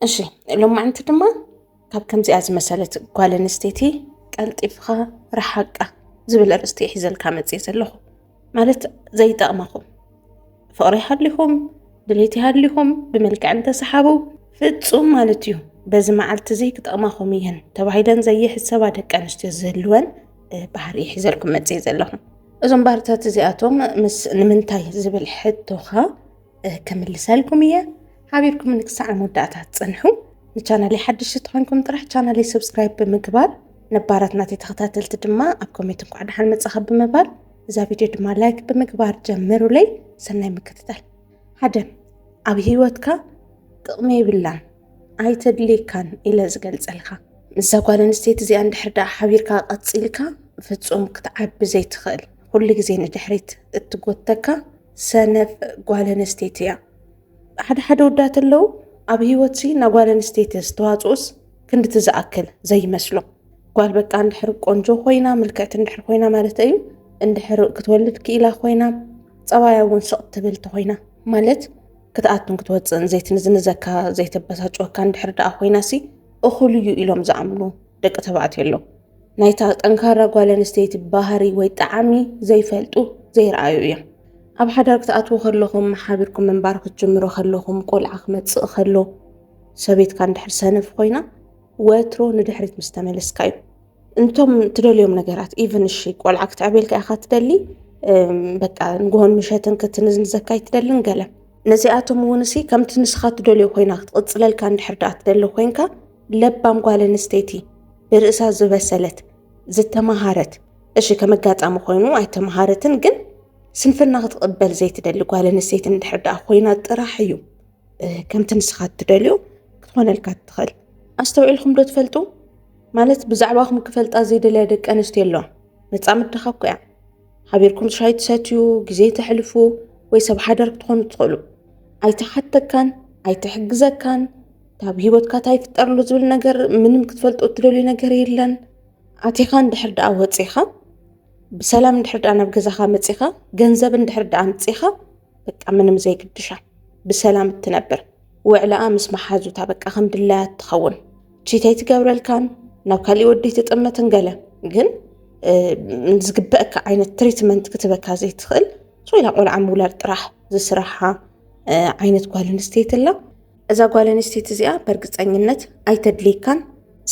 እሺ ሎማዕንቲ ድማ ካብ ከምዚኣ ዝመሰለት ጓል ኣንስተይቲ ቀልጢፍኻ ረሓቃ ዝብል ኣርእስቲ ሒዘልካ መፅእ ዘለኹ ማለት ዘይጠቕመኹም ፍቕሪ ሃሊኹም ድሌት ሃሊኹም ብመልክዕ እንተሰሓቡ ፍፁም ማለት እዩ በዚ መዓልቲ እዚ ክጠቕማኹም እየን ተባሂለን ዘይሕሰባ ደቂ ኣንስትዮ ዝህልወን ባህሪ ሒዘልኩም መፅእ ዘለኹም እዞም ባህርታት እዚኣቶም ምስ ንምንታይ ዝብል ሕቶኻ ከምልሰልኩም እየ ሓቢርኩምኒ ክሳዕ መወዳእታ ትፅንሑ ንቻናለይ ሓድሽ ተኾንኩም ጥራሕ ቻናለይ ሰብስክራይብ ብምግባር ነባራት ናተይ ተኸታተልቲ ድማ ኣብ ኮሜንት እንኳዕ ደሓን መጻኻ ብምባል እዛ ቪድዮ ድማ ላይክ ብምግባር ጀምሩለይ ሰናይ ምክትታል ሓደ ኣብ ህይወትካ ጥቕሚ ይብላን ኣይተድልየካን ኢለ ዝገልጸልካ ምስዛ ጓል ኣንስተይቲ እዚኣ እንድሕር ደኣ ሓቢርካ ቀፂልካ ፍፁም ክትዓቢ ዘይትኽእል ኩሉ ግዜ ንድሕሪት እትጎተካ ሰነፍ ጓል ኣንስተይቲ እያ። ሓደ ሓደ ወዳት ኣለዉ ኣብ ሂወትሲ ናይ ጓል ኣንስተይቲ ዝተዋፅኡስ ክንድቲ ዝኣክል ዘይመስሎ ጓል በቃ እንድሕር ቆንጆ ኮይና ምልክዕቲ እንድሕር ኮይና ማለት እዩ እንድሕር ክትወልድ ክኢላ ኮይና ፀባያ እውን ስቕ ትብል ተኮይና ማለት ክትኣቱን ክትወፅእን ዘይትንዝንዘካ ዘይተበሳጭወካ እንድሕር ደኣ ኮይናሲ እኹል እዩ ኢሎም ዝኣምኑ ደቂ ተባዕትዮ ኣለዉ። ናይታ ጠንካራ ጓል ኣንስተይቲ ባህሪ ወይ ጣዕሚ ዘይፈልጡ ዘይረኣዩ እዮም። ኣብ ሓዳር ክትኣትዉ ከለኹም ሓቢርኩም ምንባር ክትጅምሩ ከለኹም ቆልዓ ክመጽእ ከሎ ሰበይትካ እንድሕር ሰነፍ ኮይና ወትሮ ንድሕሪት ምስ ተመለስካ እዩ እንቶም ትደልዮም ነገራት ኢቨን እሺ ቆልዓ ክትዕቤልካ ኢኻ ትደሊ በቃ ንግሆን ምሸትን ክትንዝንዘካ ኣይትደልን ገለ ነዚኣቶም እውን እሲ ከምቲ ንስኻ ትደልዮ ኮይና ክትቕፅለልካ እንድሕር ደኣ ትደሊ ኮይንካ ለባም ጓል ኣንስተይቲ ብርእሳ ዝበሰለት ዝተመሃረት እሺ ከም ኣጋጣሚ ኮይኑ ኣይተመሃረትን ግን ስንፍና ክትቕበል ዘይትደሊ ጓል ኣንስተይቲ እንድሕር ደኣ ኮይና ጥራሕ እዩ ከምቲ ንስኻ እትደልዮ ክትኾነልካ እትኽእል ኣስተውዒልኩም ዶ ትፈልጡ ማለት ብዛዕባኹም ክፈልጣ ዘይደልያ ደቂ ኣንስትዮ ኣለዋ መፃምድኻ እኮ እያ ሓቢርኩም ሻይ ትሰትዩ ግዜ ተሕልፉ ወይ ሰብ ሓዳር ክትኾኑ ትኽእሉ ኣይተሓተካን ኣይትሕግዘካን ካብ ሂወትካ እንታይ ይፍጠር ኣሎ ዝብል ነገር ምንም ክትፈልጦ እትደልዩ ነገር የለን። ኣቲኻ እንድሕር ደኣ ወፂኻ ብሰላም እንድሕር ደኣ ናብ ገዛኻ መፂኻ ገንዘብ እንድሕር ደኣ ኣምፂኻ በቃ ምንም ዘይግድሻ ብሰላም እትነብር ውዕላኣ ምስ መሓዙታ በቃ ከም ድላያ እትኸውን ቺተይ ትገብረልካን ናብ ካሊእ ወዲ ትጥመትን ገለ ግን ዝግበአካ ዓይነት ትሪትመንት ክትበካ ዘይትኽእል ሶይላ ቆልዓ ምውላድ ጥራሕ ዝስራሓ ዓይነት ጓል ኣንስተይቲ ኣላ። እዛ ጓል ኣንስተይቲ እዚኣ በርግጸኝነት ኣይተድልየካን።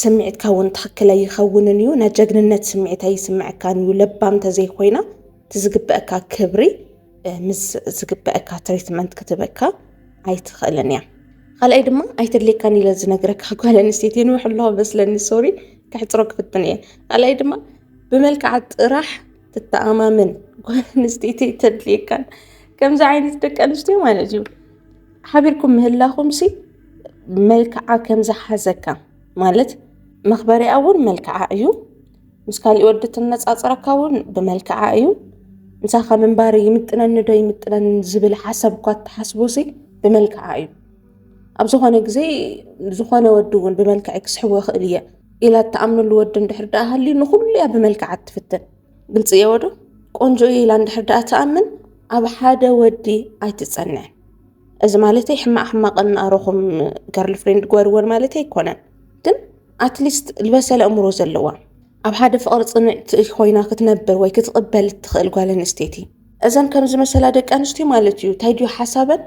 ስምዒትካ እውን ትኽክል ኣይኸውንን እዩ። ናይ ጀግንነት ስምዒት ኣይስምዐካን እዩ። ለባም ተዘይኮይና እቲ ዝግበአካ ክብሪ ምስ ዝግበአካ ትሪትመንት ክትበካ ኣይትኽእልን እያ። ካልኣይ ድማ ኣይተድልየካን ኢለ ዝነግረካ ጓል ኣንስተይቲ የንውሕ ኣለዋ መስለኒ ሶሪ ከሕፅሮ ክፍትን እየ። ካልኣይ ድማ ብመልክዓ ጥራሕ ትተኣማመን ጓል ኣንስተይቲ ተድልየካን ከምዚ ዓይነት ደቂ ኣንስትዮ ማለት እዩ ሓቢርኩም ምህላኹም ሲ መልክዓ ከም ዝሓዘካ ማለት መኽበሪያ እውን መልክዓ እዩ ምስ ካሊእ ወዲ ትነፃፅረካ እውን ብመልክዓ እዩ ምሳኻ ምንባር ይምጥነኒ ዶ ይምጥነኒ ዝብል ሓሳብ እኳ እትሓስቦ ሲ ብመልክዓ እዩ ኣብ ዝኾነ ግዜ ዝኾነ ወዲ እውን ብመልክዐይ ክስሕቦ ይኽእል እየ ኢላ እትኣምነሉ ወዲ እንድሕር ደኣ ሃልዩ ንኹሉ እያ ብመልክዓ እትፍትን ግልፂ እየ ወዶ ቆንጆ እየ ኢላ እንድሕር ደኣ ትኣምን ኣብ ሓደ ወዲ ኣይትፀንዕን እዚ ማለተይ ሕማቅ ሕማቅ እናኣረኹም ገርል ፍሬንድ ግበርወን ማለት ኣይኮነን ግን ኣትሊስት ዝበሰለ እምሮ ዘለዋ ኣብ ሓደ ፍቅሪ ፅንዕቲ ኮይና ክትነብር ወይ ክትቕበል እትኽእል ጓል ኣንስተይቲ እዘን ከም ዝመሰላ ደቂ ኣንስትዮ ማለት እዩ እንታይ ድዩ ሓሳበን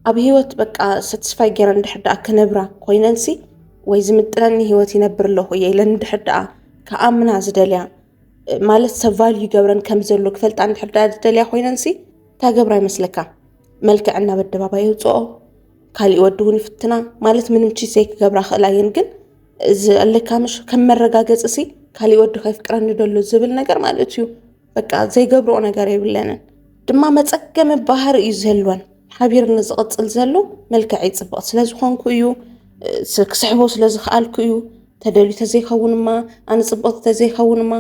ኣብ ሂወት በቃ ሰትስፋይ ገይረን እንድሕር ደኣ ክነብራ ኮይነንሲ ወይ ዝምጥነኒ ሂወት ይነብር ኣለኹ እየ ኢለን እንድሕር ደኣ ከኣምና ዝደልያ ማለት ሰብ ቫልዩ ይገብረን ከም ዘሎ ክፈልጣ እንድሕር ደኣ ዝደልያ ኮይነንሲ እታ ገብራ ይመስለካ መልክዕ ናብ ኣደባባይ የውፅኦ ካሊእ ወዲ እውን ይፍትና ማለት ምንም ቺት ዘይክገብራ ክእላ እየን ግን እዚ ኣለካ ምሽ ከም መረጋገፂ ሲ ካሊእ ወዲ ከይፍቅረኒ ደሎ ዝብል ነገር ማለት እዩ በቃ ዘይገብርኦ ነገር የብለንን ድማ መፀገሚ ባህር እዩ ዘልወን ሓቢር ንዝቕፅል ዘሎ መልክዕ ይፅብቕ ስለ ዝኾንኩ እዩ ክስሕቦ ስለ ዝኽኣልኩ እዩ ተደልዩ ተዘይኸውንማ ኣነ ፅብቕቲ ተዘይኸውንማ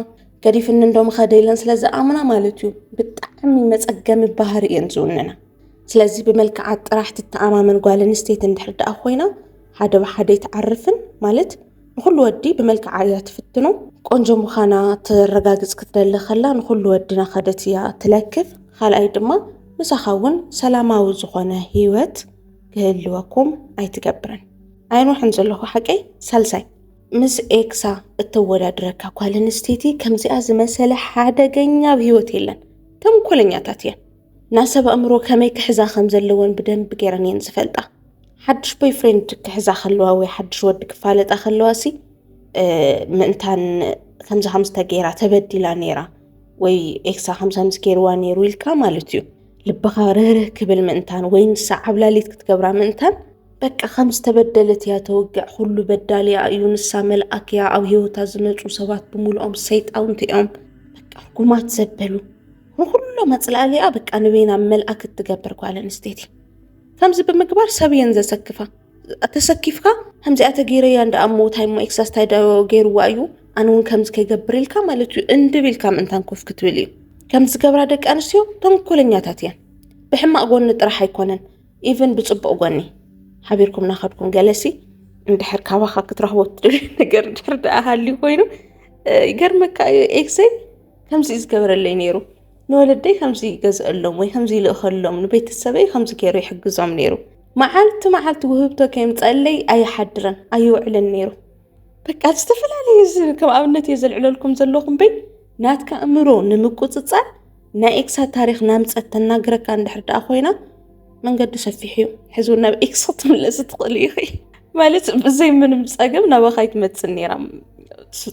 ገዲፍኒ እንዶ ምኸደ ኢለን ስለ ዝኣምና ማለት እዩ ብጣዕሚ መፀገሚ ባህር እየን ዝውንና ስለዚ ብመልክዓት ጥራሕ ትተኣማመን ጓል ኣንስተይቲ እንድሕር ደኣ ኮይና ሓደ ብሓደ ይትዓርፍን ማለት ንኹሉ ወዲ ብመልክዓ እያ ትፍትኖ ቆንጆ ምዃና ተረጋግፅ ክትደሊ ከላ ንኹሉ ወዲ ናኸደት እያ ትለክፍ ካልኣይ ድማ ምሳኻ እውን ሰላማዊ ዝኾነ ህይወት ክህልወኩም ኣይትገብርን ኣይንውሕን ዘለኹ ሓቀይ ሳልሳይ ምስ ኤክሳ እተወዳድረካ ጓል ኣንስተይቲ ከምዚኣ ዝመሰለ ሓደገኛ ኣብ ህይወት የለን ተንኮለኛታት እየን ናይ ሰብ ኣእምሮ ከመይ ክሕዛ ከም ዘለወን ብደንቢ ገይረን እየን ዝፈልጣ። ሓድሽ ቦይ ፍሬንድ ክሕዛ ከለዋ ወይ ሓድሽ ወዲ ክፋለጣ ከለዋ ሲ ምእንታን ከምዚ ከምዚ ተገይራ ተበዲላ ነይራ ወይ ኤክሳ ከምዚ ከምዚ ገይርዋ ነይሩ ኢልካ ማለት እዩ ልብኻ ርህርህ ክብል ምእንታን ወይ ንሳ ዓብላሊት ክትገብራ ምእንታን በቃ ከም ዝተበደለት እያ ተወግዕ ኩሉ በዳሊያ እዩ ንሳ መልኣክ እያ ኣብ ሂወታ ዝመፁ ሰባት ብምልኦም ሰይጣውንቲ እዮም በቃ ጉማት ዘበሉ ንኹሉ መፅላእሊኣ በቃ ንበይና መልኣክ እትገብር ጓል ኣንስተይቲ ከምዚ ብምግባር ሰብ እየን ዘሰክፋ ተሰኪፍካ ከምዚኣ ተገይረያ እንዳ ኣብ ሞታይ እሞ ኤክሳስ እንታይ ገይርዋ እዩ ኣነ እውን ከምዚ ከይገብር ኢልካ ማለት እዩ እንድብ ኢልካ ምእንታን ኮፍ ክትብል እዩ ከም ዝገብራ ደቂ ኣንስትዮ ተንኮለኛታት እየን ብሕማቕ ጎኒ ጥራሕ ኣይኮነን ኢቨን ብፅቡቕ ጎኒ ሓቢርኩም ናኸድኩም ገለሲ እንድሕር ካባኻ ክትረኽቦ ትደልዩ ነገር ድሕር ደኣ ሃልዩ ኮይኑ ይገርመካ እዩ ኤክሰይ ከምዚ እዩ ዝገበረለይ ነይሩ ንወለደይ ከምዚ ይገዝአሎም ወይ ከምዚ ይልእኸሎም ንቤተሰበይ ከምዚ ገይሩ ይሕግዞም ነይሩ መዓልቲ መዓልቲ ውህብቶ ከየምፀለይ ኣይሓድረን ኣይውዕልን ነይሩ በቃ ዝተፈላለዩ ከም ኣብነት እየ ዘልዕለልኩም ዘለኹም በይ ናትካ እምሮ ንምቁፅፃር ናይ ኤክሳ ታሪክ ናምፀት ተናግረካ እንድሕር ደኣ ኮይና መንገዱ ሰፊሕ እዩ ሕዚ እውን ናብ ኤክስ ክትምለስ ትኽእሉ ኢኺ ማለት ብዘይ ምንም ፀገም ናባኻ ይትመፅእ ነይራ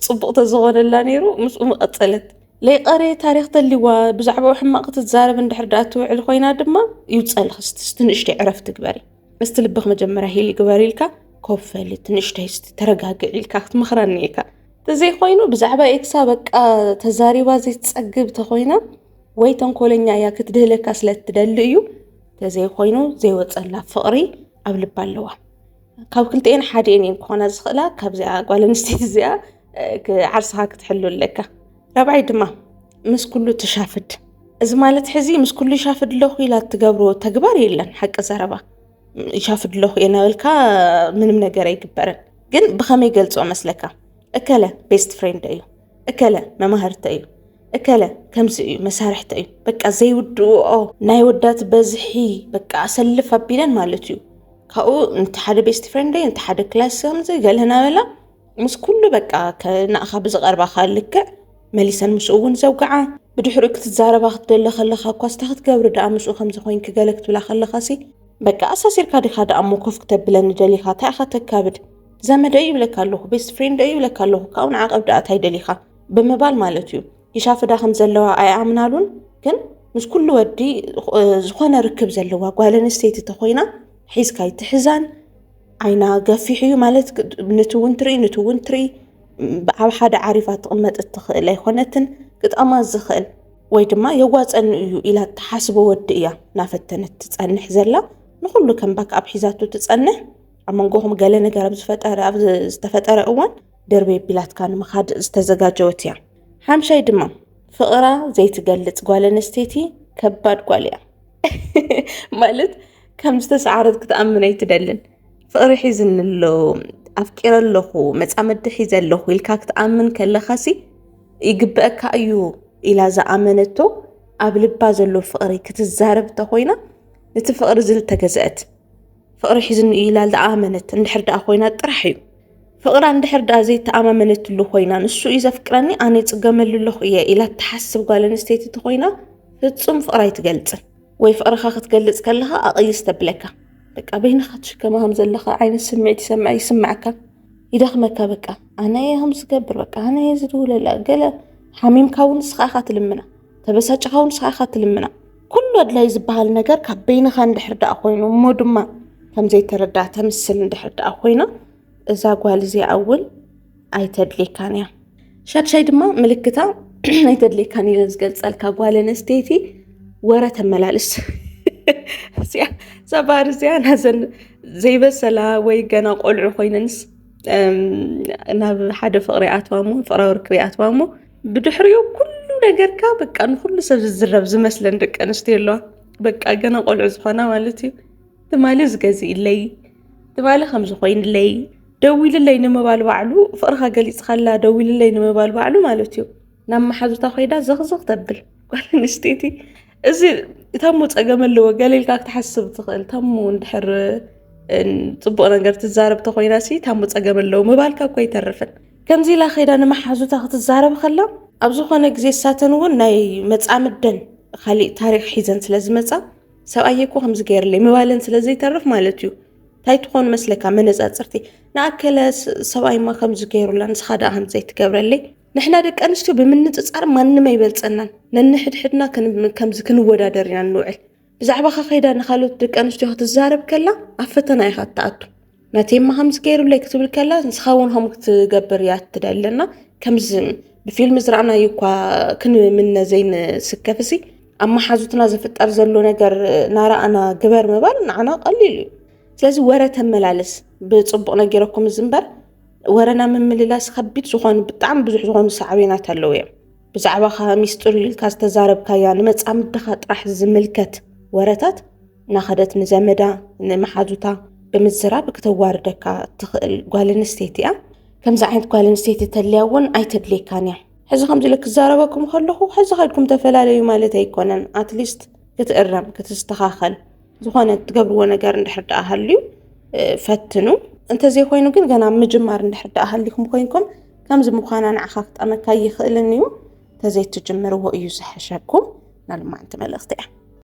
ፅቡቕ ተዝኾነላ ነይሩ ምስኡ መቐፀለት ለይቀረ ታሪክ ተልዋ ብዛዕባኡ ሕማቕ ክትዛረብ እንድሕር ዳኣ ትውዕል ኮይና ድማ ይውፀልኺ ስቲ ንእሽተይ ዕረፍ ትግበሪ እስቲ ልብኽ መጀመርያ ሂል ይግበር ኢልካ ኮፍ በሊ ትንእሽተይ ስቲ ተረጋግዕ ኢልካ ክትምኽራ እኒኢካ ተዘይኮይኑ ብዛዕባ ኤክሳ በቃ ተዛሪባ ዘይትፀግብ ተኾይና ወይ ተንኮለኛ እያ ክትድህለካ ስለ እትደሊ እዩ ተዘይኮይኑ ዘይወፀላ ፍቕሪ ኣብ ልባ ኣለዋ ካብ ክልተኤን ሓደኤን እየን ክኾና ዝኽእላ ካብዚኣ ጓል ኣንስተይቲ እዚኣ ዓርስኻ ክትሕሉ ኣለካ ራብዓይ ድማ ምስ ኩሉ ትሻፍድ እዚ ማለት ሕዚ ምስ ኩሉ ይሻፍድ ኣለኹ ኢላ እትገብሮ ተግባር የለን ሓቂ ዘረባ ይሻፍድ ኣለኹ እየ ናበልካ ምንም ነገር ኣይግበርን ግን ብኸመይ ገልፆ መስለካ እከለ ቤስት ፍሬንድ እዩ እከለ መማህርተ እዩ እከለ ከምዚ እዩ መሳርሕተ እዩ በቃ ዘይውድእኦ ናይ ወዳት በዝሒ በቃ ኣሰልፍ ኣቢለን ማለት እዩ ካብኡ ነቲ ሓደ ቤስት ፍሬንደይ ነቲ ሓደ ክላስ ከምዚ ገለ ናበላ ምስ ኩሉ በቃ ንኣኻ ብዝቐርባኻ ልክዕ መሊሰን ምስኡ እውን ዘውግዓ ብድሕሪኡ ክትዛረባ ክትደለ ከለኻ እኳ ስታ ክትገብሪ ደኣ ምስኡ ከምዚ ኮይንኪ ገለ ክትብላ ከለኻ ሲ በቃ ኣሳሲርካ ዲኻ ደኣ እሞ ኮፍ ክተብለኒ ደሊኻ እንታይ ኢኻ ተካብድ ዘመደይ ይብለካ ኣለኹ ቤስት ፍሬንደይ ይብለካ ኣለኹ ካብኡ ንዓቐብ ደኣ እንታይ ደሊኻ ብምባል ማለት እዩ ይሻፍዳ ከም ዘለዋ ኣይኣምናሉን ግን ምስ ኩሉ ወዲ ዝኾነ ርክብ ዘለዋ ጓል ኣንስተይቲ ተኾይና ሒዝካ ይትሕዛን ዓይና ገፊሕ እዩ ማለት ነቲ እውን ትርኢ ነቲ እውን ትርኢ ኣብ ሓደ ዓሪፋ ትቕመጥ እትኽእል ኣይኮነትን ግጣማ ዝኽእል ወይ ድማ የዋፀኒ እዩ ኢላ እትሓስቦ ወዲ እያ እናፈተነት ትፀንሕ ዘላ ንኩሉ ከም ባክ ኣብ ሒዛቱ ትፀንሕ ኣብ መንጎኹም ገለ ነገር ኣብ ዝፈጠረ ኣብ ዝተፈጠረ እዋን ደርበ ቢላትካ ንምኻድ ዝተዘጋጀወት እያ ሓምሻይ ድማ ፍቕራ ዘይትገልፅ ጓል ኣንስተይቲ ከባድ ጓል እያ ማለት ከም ዝተሰዓረት ክትኣምን ኣይትደልን ፍቕሪ ሒዝኒ ኣሎ ኣፍቂረ ኣለኹ መፃመዲ ሒዘ ኣለኹ ኢልካ ክትኣምን ከለኻሲ ይግበአካ እዩ ኢላ ዝኣመነቶ ኣብ ልባ ዘሎ ፍቕሪ ክትዛረብ እንተኮይና ነቲ ፍቕሪ ዝልተገዘአት ፍቕሪ ሒዝኒ እዩ ኢላ ዝኣመነት እንድሕር ደኣ ኮይና ጥራሕ እዩ። ፍቕራ እንድሕር ደኣ ዘይተኣማመነትሉ ኮይና ንሱ እዩ ዘፍቅረኒ ኣነ ይጽገመሉ ኣለኹ እየ ኢላ እትሓስብ ጓል ኣንስተይቲ እንተኾይና ፍጹም ፍቕሪ ኣይትገልጽን። ወይ ፍቕርኻ ክትገልጽ ከለኻ ኣቕይስ ተብለካ በቃ በይንኻ ትሽከማ ከም ዘለኻ ዓይነት ስምዒት ይሰምዐ ይስምዓካ ይደኽመካ በቃ ኣነ እየ ከም ዝገብር በቃ ኣነ እየ ዝድውለላ ገለ ሓሚምካ እውን ንስኻ ኢኻ ትልምና ተበሳጭኻ እውን ንስኻ ኢኻ ትልምና ኩሉ ኣድላይ ዝበሃል ነገር ካብ በይንኻ እንድሕር ደኣ ኮይኑ እሞ ድማ ከም ዘይተረዳእ ተምስል እንድሕር ደኣ ኮይና እዛ ጓል እዚኣ እውን ኣይተድልየካን እያ። ሻድሻይ ድማ ምልክታ ኣይተድልየካን ኢለ ዝገልጸልካ ጓል ኣንስተይቲ ወረ ተመላልስ እዚኣ ሰባር እዚኣ ናዘን ዘይበሰላ ወይ ገና ቆልዑ ኮይነንስ ናብ ሓደ ፍቅሪ ኣትዋ እሞ ፍቅራዊ ርክብ ኣትዋ እሞ ብድሕሪኡ ኩሉ ነገርካ በቃ ንኩሉ ሰብ ዝዝረብ ዝመስለን ደቂ ኣንስትዮ ኣለዋ በቃ ገና ቆልዑ ዝኾና ማለት እዩ ትማሊ ዝገዝእለይ ትማሊ ከምዚ ኮይንለይ ደዊልለይ ንምባል ባዕሉ ፍቕርካ ገሊፅካላ ደዊልለይ ንምባል ባዕሉ ማለት እዩ ናብ መሓዙታ ኮይዳ ዘኽዘኽ ተብል ጓል ኣንስተይቲ እዚ እታሞ ፀገም ኣለዎ ገሌልካ ክትሓስብ ትኽእል እታሞ እንድሕር ፅቡቕ ነገር ትዛረብ ተኮይና ሲ እታሞ ፀገም ኣለዎ ምባልካ እኮ ኣይተርፍን ከምዚ ኢላ ከይዳ ንመሓዙታ ክትዛረብ ከላ ኣብ ዝኾነ ግዜ ሳተን እውን ናይ መፃምደን ካሊእ ታሪክ ሒዘን ስለ ዝመፃ ሰብኣየ እኮ ከምዚ ገይርለይ ምባለን ስለ ዘይተርፍ ማለት እዩ እንታይ ትኾን መስለካ መነፃፅርቲ ንኣከለ ሰብኣይማ ከምዚ ገይሩላ ንስኻ ደኣ ከምዚ ዘይትገብረለይ ንሕና ደቂ ኣንስትዮ ብምንፅፃር ማንም ኣይበልፀናን ነንሕድሕድና ከምዚ ክንወዳደር ኢና ንውዕል ብዛዕባ ከኸይዳ ንካልኦት ደቂ ኣንስትዮ ክትዛረብ ከላ ኣብ ፈተና ኢኻ እትኣቱ ነቴማ ከምዚ ገይሩለይ ክትብል ከላ ንስኻ እውን ከምኡ ክትገብር እያ እትደለና ከምዚ ብፊልም ዝረኣናዩ እኳ ክንምነ ዘይንስከፍ እሲ ኣብ መሓዙትና ዝፍጠር ዘሎ ነገር ናረኣና ግበር ምባል ንዓና ቀሊል እዩ ስለዚ ወረ ተመላለስ ብፅቡቕ ነጊረኩም እዚ እምበር ወረና ምምልላስ ከቢድ ዝኾኑ ብጣዕሚ ብዙሕ ዝኾኑ ሳዕቤናት ኣለዉ እዮም ብዛዕባ ኸ ሚስጢር ኢልካ ዝተዛረብካያ ንመፃምድኻ ጥራሕ ዝምልከት ወረታት እናኸደት ንዘመዳ ንመሓዙታ ብምዝራብ ክተዋርደካ እትኽእል ጓል ኣንስተይቲ እያ ከምዚ ዓይነት ጓል ኣንስተይቲ ተልያ እውን ኣይተድልየካን እያ ሕዚ ከምዚ ኢለ ክዛረበኩም ከለኹ ሕዚ ከድኩም ተፈላለዩ ማለት ኣይኮነን ኣትሊስት ክትእረም ክትስተኻኸል ዝኾነ እትገብርዎ ነገር እንድሕር ደኣ ሃልዩ ፈትኑ እንተዘይኮይኑ ግን ገና ምጅማር እንድሕር ደኣ ሃሊኹም ኮይንኩም ከምዚ ምዃና ንዓኻ ክጠመካ ይኽእልን እዩ ተዘይትጅምርዎ እዩ ዝሐሸኩም ናልማዓንቲ መልእኽቲ እያ